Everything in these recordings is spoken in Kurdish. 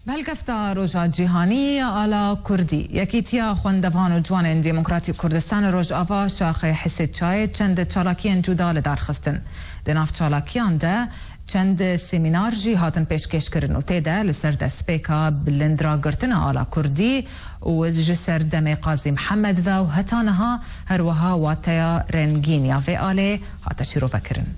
Belgefta Roja Cîhanî ya Ala Kurdî, Yekîtiya Xwendevan û Ciwanên Demokratîk Kurdistani Rojava Şaxê Hisê Çayê çend çalakiyên cuda li dar xistin. Di nav çalakiyan de çend semînar jî hatin pêşkêşkirin û tê de li ser destpêka bilindragirtina Ala Kurdî û ji ser demê Qazî Mihemed ve û heta niha her wiha wateya rengîn ya vê alê hate şîrovekirin.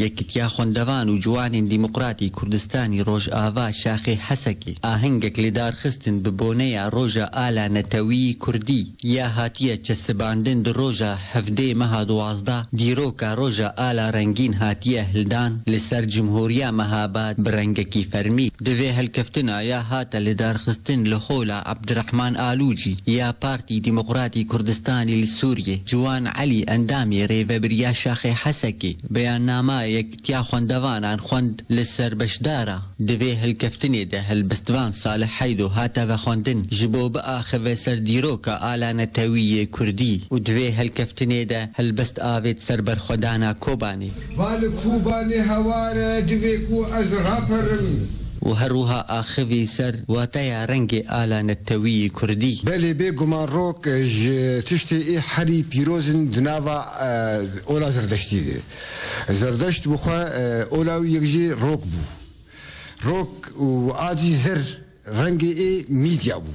Yekîtiya Xwendevan û Ciwanên Dîmoqratî Kurdistanî Rojava Şaxê Hesekê ahengek li dar xistin bi boneya Roja Ala Netewî Kurdî ya hatiye çesibandin di roja hevdê meha duwazdeh dîroka Roja Ala Rengîn hatiye hildan li ser Cumhuriya Mehabad bi rengekî fermî. Di vê helkeftina ya hate lidarxistin li Hola. Abdirehman Alûcî ya Partî Demokratî Kurdistanî li Sûriyê, Ciwan Elî endamê Rêvebiriya Şaxê Hesekê beyannama Yekîtiya Xwendevanan xwend li ser beşdara. Di vê hilkeftinê de helbestvan Salih Heydo hate vexwendin ji bo biaxive ser dîroka ala netewî yê Kurdî û di vê helkeftinê de helbest avêt ser berxwedana Kobanê. Va li Kûbanê hewar e divê ku ez raperim. Û her wiha axivî ser wateya rengê ala nettewîyî kurdî. Belê bê guman rok ji tiştê ê herî pîroz in di nava ola zerdeştî de. Zerdeşt bi xwe ola wî yek jî rok bû. Rok û adî zer rengê ê mîdya bû.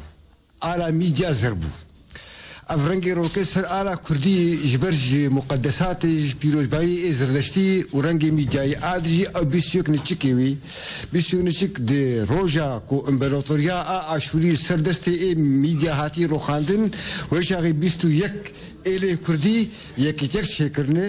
Ala mîdya zer bû. Ev rengê rokê ser ala kurdî ji ber ji muqedesatê, ji pîrozbayî ê zirdeştî û rengê mîdyayî a dijî ew bîst û yek niçikê wî, bîst û yek niçik di roja ku împeratoriya a Aşûrî li ser destê ê mîdya hatî roxandin, wê çaxê bîst û yek êlên kurdî yek yek çêkirine,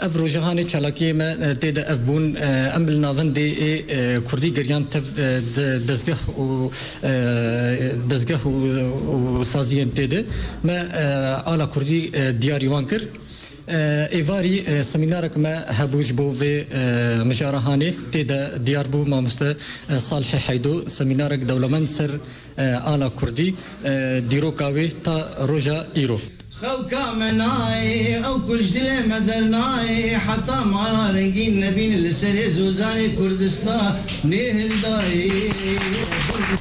Ev rojahanê çalakiyê me tê de ev bûn. Em li navendê ê kurdî geriyan tev di dezgeh û dezgeh û saziyên tê de. Me ala kurdî diyarî wan kir. Êvarî semînarek me hebû ji bo vê mijarahanê tê de diyar bû mamoste Salihê Heydo semînarek dewlemend ser Ala Kurdî dîroka wê ta roja îro. Xewka me nayê, ew ku ji dilê me dernayê, heta mala rengîn nebîn li serê zozanê Kurdistanê hildayê.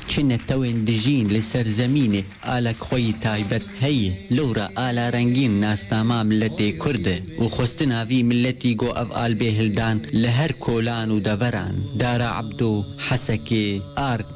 Çi netewên dijîn li ser zemînê alek xwe yî taybet heye. Lewra ala rengîn nasnama miletê Kurd e û xwestina vî miletî got ev albê hildan li her kolan û deveran, Dara Ebdo, Hesekê, Ark,